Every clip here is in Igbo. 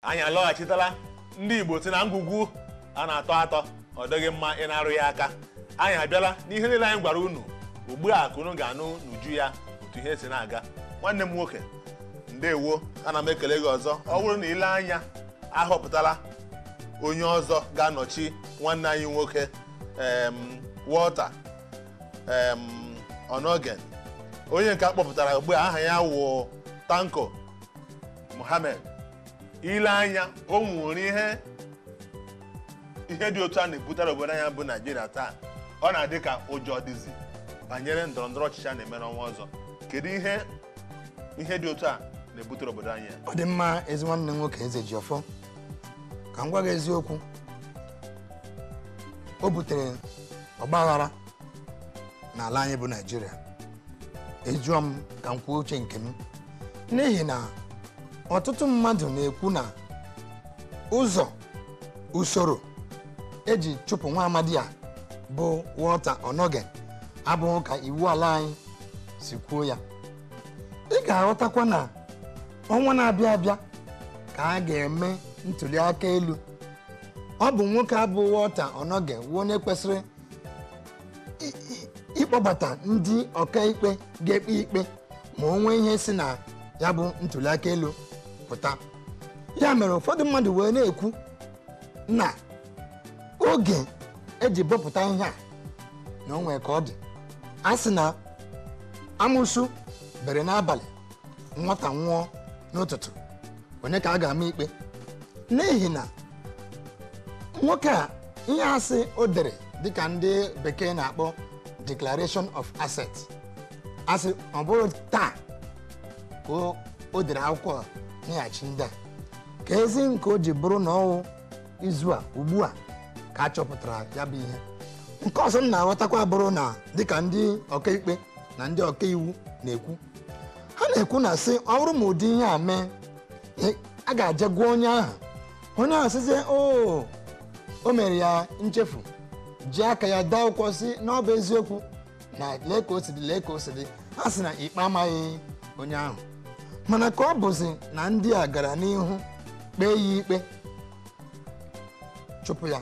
anyị alọghachitala ndị igbo sị na ngwugwu a na-atọ atọ ọ dịghị mma ị na-arụ ya aka anyị abịala n'ihe niile anyị gwara unu ugbu a ka unu ga-anụ n'uju ya otu ihe si na-aga nwanne m nwoke ndewo ana m ekele gị ọzọ ọ bụrụ na ile anya ahọpụtala onye ọzọ ga-anọchi nwanne anyị nwoke em, Walter Onnoghen onye nke a kpọpụtara ugbu a aha ya wụ Tanko Muhammad ile anya o nwere ihe ihe dị otu a na-ebutara obodo anyị a bụ naijiria taa ọ na-adị ka ụjọ dịzi banyere ndọrọ ndọrọ ọchịchị a na-eme n'ọnwa ọzọ kedu ihe ihe dị otu a na-ebutere obodo anyị a ọ dị mma ezi nwanne m nwoke Ezejiọfọ ka m gwa gị eziokwu o butere ọgbaghara n'ala anyị bụ naijiria a jụọ m ka m kwuo uche nke m n'ihi na ọtụtụ mmadụ na-ekwu na ụzọ usoro e ji chụpụ nwa amadi a bụ Walter Onnoghen abụghị ka iwu ala anyị si kwuo ya ị ga-aghọtakwa na ọnwa na-abịa abịa ka a ga-eme ntuli aka elu ọ bụ nwoke a bụ Walter Onnoghen wụ onye kwesịrị ịkpọbata ndị ọkaikpe ga-ekpe ikpe ma o nwee ihe si na ya bụ ntuliaka elu pụta ya mere ụfọdụ mmadụ wee na-ekwu na oge e ji bọpụta ihe a na o nwe ka ọ dị a sị na amusu bere n'abalị nwata nwụọ n'ụtụtụ onye ka a ga-ama ikpe n'ihi na nwoke a ihe a sị o dere dịka ndị bekee na-akpọ declaration of asset a sị ọ bụrọ taa ka o- o dere akwụkwọ a nyeghachi ndị a ka ezi nke o ji bụrụ na ọ wụ izu a ugbu a ka a chọpụtara ya bụ ihe nke ọzọ m na-aghọtakwa bụrụ na dịka ndị ọkaikpe na ndị ọkaiwu na-ekwu ha na-ekwu na sị ọ bụrụ ma ụdị ihe a mee e, a ga-aje gwa onye ahụ onye ahụ sịzie o oh, o mere ya nchefu ji aka ya dee akwụkwọ sị na ọ bụ eziokwu na lee ka o si dị lee ka o si dị ha sị na ikpe amaghị onye ahụ mana ka ọ bụzi na ndị a gara n'ihu kpee ya ikpe chụpụ ya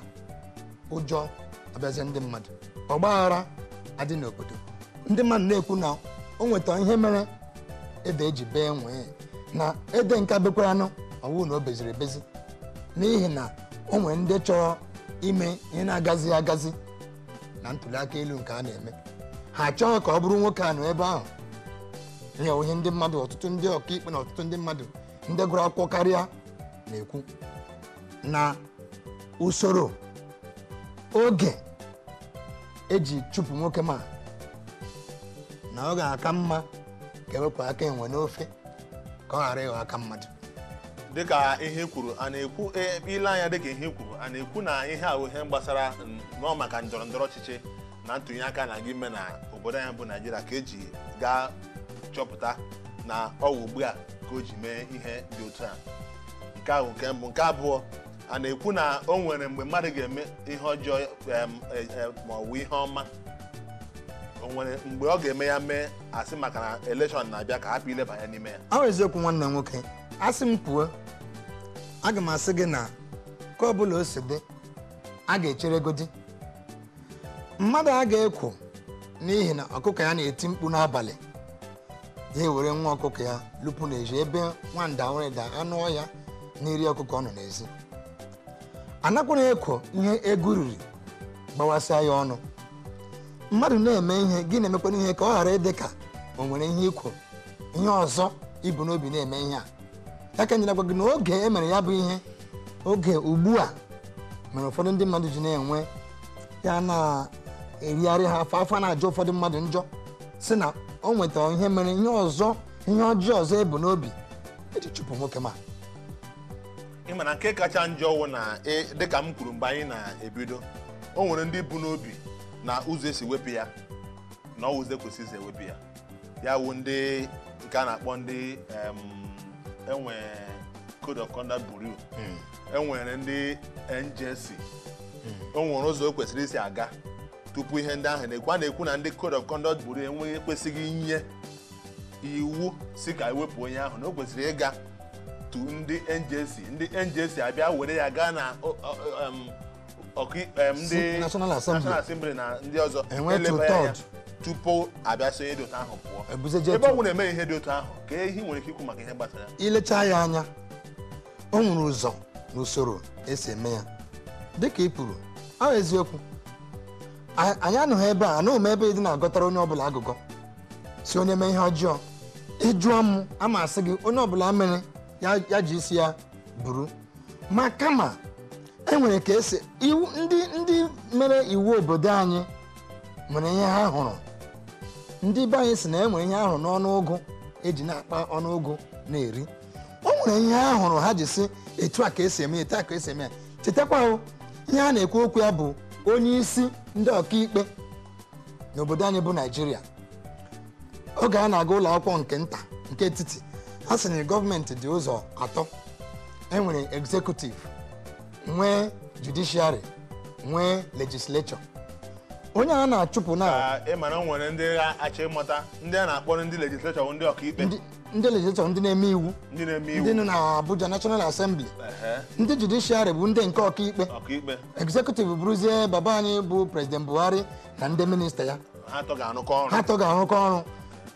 ụjọ abịazie ndị mmadụ ọgba aghara adị n'obodo ndị mmadụ na-ekwu na o nweta ihe mere ede ji bee nwee na ede nke a bekwaranụ ọ wụ na o beziri ebezi n'ihi na o nwere ndị chọrọ ime ihe na-agazi agazi na ntuli aka elu nke a na-eme ha achọghị ka ọ bụrụ nwoke a nọ ebe ahụ ihe wụ ihe ndị mmadụ ọtụtụ ndị ọkaikpe na ọtụtụ ndị mmadụ ndị gụrụ akwụkwọ karịa na-ekwu na usoro oge eji chụpụ nwoke ma na ọ ga-aka mma ka ewepụ aka enwe n'ofe ka ọ ghara ịghọ aka mmadụ dịka ihe i kwuru a na-ekwu e, ile anya dịka ihe i kwuru a na-ekwu na ihe a bụ ihe gbasara n- nọ maka ndọrọ ndọrọ ọchịchị na ntụnye aka a na-aga ime na obodo anyị bụ naijiria ka eji gaa chọpụta na ọ wụ ugbu a ka o ji mee ihe dị otu a nke a wụ nke mbụ nke abụọ a na-ekwu na o nwere mgbe mmadụ ga-eme ihe ọjọọ em, e, e, ma ọ bụ ihe ọma o nwere mgbe ọ ga-eme ya mee asị maka na elekshọn na-abịa ka a hapụ ileba anya n'ime ya ọ wụ eziokwu nwanne m nwoke asị m kwuo aga m asị gị na ka ọ bụla o si dị a ga-echeregodi mmadụ a ga-ekwo n'ihi na ọkụkọ ya na-eti mkpu n'abalị ya ewere nwa ọkụkọ ya lụpụ n'ezi ebe nwanda nwere da anụ ọhịa na-eri ọkụkọ nọ n'ezi anakwara ekwo ihe eghu riri gbawasịa ya ọnụ mmadụ na-eme ihe gị na-emekwana ihe ka ọ ghara ịdị ka o nwere ihe i kwo ihe ọzọ i bu n'obi na-eme ihe a ya ka nyere gwa gị na oge e mere ya bụ ihe oge ugbu a mere ụfọdụ ndị mmadụ ji na-enwe ya na-erigharị ha afọ afọ na-ajọ ụfọdụ mmadụ njọ sị na o nwetara ihe mere ihe ọzọ ihe ọjọọ ọzọ ebu n'obi eji chụpụ nwoke ma ị ma na nke kacha njọ wụ na ị- dịka m kwuru mgbe anyị na-ebido o nwere ndị bu n'obi na ụzọ esi wepụ ya na ọ wụ ụzọ ekwesịghị isi ewepụ ya ya wụ ndị nke a na-akpọ ndị em, enwe code of conduct bureau enwere ndị njc o nwere ụzọ o kwesịrị isi aga tupu ihe ndị ahụ na-ekwu a na-ekwu na ndị code of conduct bureau enweghị ekwesịghị inye iwu sị ka ewepụ onye ahụ na o kwesịrị ịga to ndị njc ndị njc abịa were ya gaa na o- o- em, ndị National Assembly na ndị ọzọ eleba ya tupu abịa sị onye dị otu ahụ pụọ e ebe ọ bụla eme ihe dị otu ahụ ka ihe nwere ike ikwu maka ihe gbasara ilecha ya anya o nwere ụzọ na usoro esi eme ya dịka ị kwuru ọ wụ eziokwu anyị anọghị ebe a anọghị m ebe dị na-agọtara onye ọbụla agụgọ sị onye mee ihe ọjọọ ị jụọ m ama asị gị onye ọbụla mere ya ji isi ya buru ma kama e nwere ka esi iwu ndị ndị mere iwu obodo anyị nwere ihe ha hụrụ ndị be anyị si na e nwere ihe a hụrụ n'ọnụ ụgụ eji na-akpa ọnụ ụgụ na-eri o nwere ihe ha hụrụ ha ji sị etu a ka esi eme ya, etu a ka esi eme ya chetakwa o, ihe a na-ekwu okwu ya bụ onye isi ndị ọkaikpe n'obodo anyị bụ Naịjirịa oge a na-aga ụlọ akwụkwọ nke nta nke etiti a sị na gọọmenti dị ụzọ atọ enwere executive nwee judiciary nwee legislature onye a na-achụpụ na Ka ị mara o nwere ndị ga-achọ ịmata ndị a na-akpọ ndị legislature bụ ndị ọkaikpe ndị- ndị legislature ndị na-eme iwu ndị na-eme iwu ndị nọ na Abuja National Assembly Ehe, ndị judiciary bụ ndị nke ọkaikpe ọkaikpe executive bụrụzie baba anyị bụ President Buhari na ndị minista ya ha atọ ga-arụkọ ọrụ ha atọ ga-arụkọ ọrụ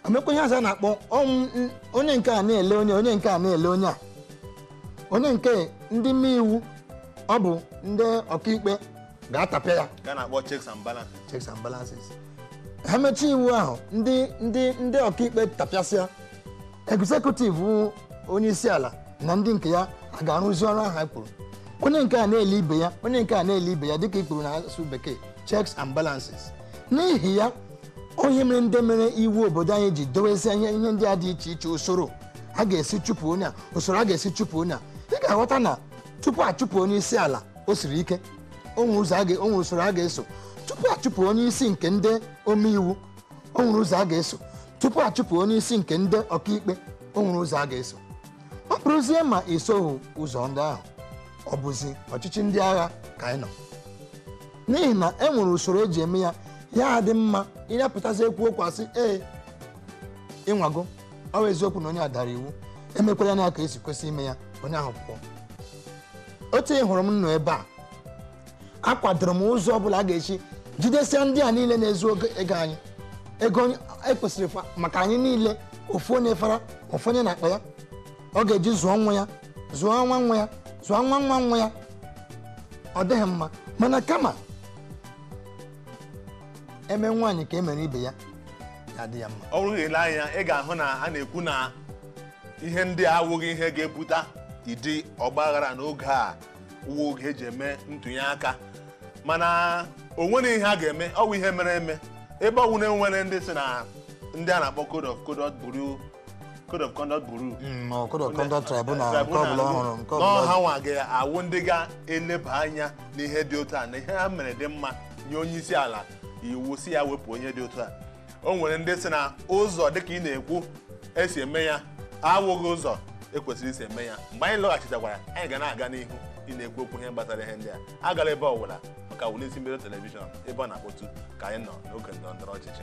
emekwa ihe ọzọ a na-akpọ onye nke a na-ele onye onye nke a na-ele onye a onye nke ndị mee iwu ọ bụ ndị ọkaikpe ga-atapịa ya ka a na-akpọ checks and balance checks and balances ha mechaa iwu ahụ ndị ndị ndị ọkaikpe tapịasịa executive onye isi ala na ndị nke ya a ga-arụzi ọrụ ahụ ha kwuru onye nke a na-ele ibe ya onye nke a na-ele ibe ya dịka i kwuru na asụsụ bekee checks and balances n'ihi ya onye mere ndị mere iwu obodo anyị ji dowezie ihe ihe ndị a dị iche iche usoro a ga-esi chụpụ onye a usoro a ga-esi chụpụ onye a ị ga-aghọta na tupu achụpụ onye isi ala o siri ike o nwere ụzọ a ga- o nwere usoro a ga-eso tupu achụpụ onye isi nke ndị omeiwu o nwere ụzọ a ga-eso tupu a chụpụ onye isi nke ndị ọkaikpe o nwere ụzọ a ga-eso ọ bụrụzie ma esoghị ụzọ ndị ahụ ọ bụzi ọchịchị ndị agha ka anyị nọ n'ihi na e nwere usoro eji eme ya ya adị mma ị ya-apụtazi ekwu okwu a sị ee ị nwago ọ bụ eziokwu na onye a dara iwu emekwalanụ ya ka esi kwesị ime ya onye ahụ pụọ otu ị hụrụ m nọ ebe a akwadoro m ụzọ ọ bụla a ga-esi jidesia ndị a niile na-ezu oge- ego anyị ego onye- ekwesịrị fa- maka anyị niile ofu onye fara ofu onye n'akpa ya ọ ga-eji zụọ nwa ya zụọ nwa nwa ya zụọ nwa nwa nwa ya ọ dịghị mma mana kama e mee nwaanyị ka e mere ibe ya ya adị ya mma ọ bụrụ na i lee anya ị ga-ahụ na a na-ekwu na ihe ndị a awụghị ihe ga-ebute ụdị ọgbaghara n'oge a wụ oge eji eme ntụnye aka mana o nwere ihe a ga-eme ọ bụ ihe mere eme ebe ọ wụ na e nwere ndị sị na ndị a na-akpọ code of conduct bureau code of conduct bureau Mm, ọ code of conduct tribunal nke tribunal ọbụla ọhụrụ nke na ọbụla ọ hanwa ga-awụ ndị ga-eleba anya n'ihe dị otu a na ihe ha mere dị mma nye onye isi ala iwu sị ya wepụ onye dị otu a o nwere ndị sị na ụzọ dịka ị na-ekwu esi eme ya awụghị ụzọ ekwesịrị isi eme ya mgbe anyị lọghachitakwara anyị ga na-aga n'ihu ị na-ekwu okwu ihe gbasara ihe ndị a agala ebe ọbụla ọ ka wụlị isi mbido telivishọn ebe ọ na-akpọtụ ka anyị nọ n'oge ndọrọ ndọrọ ọchịchị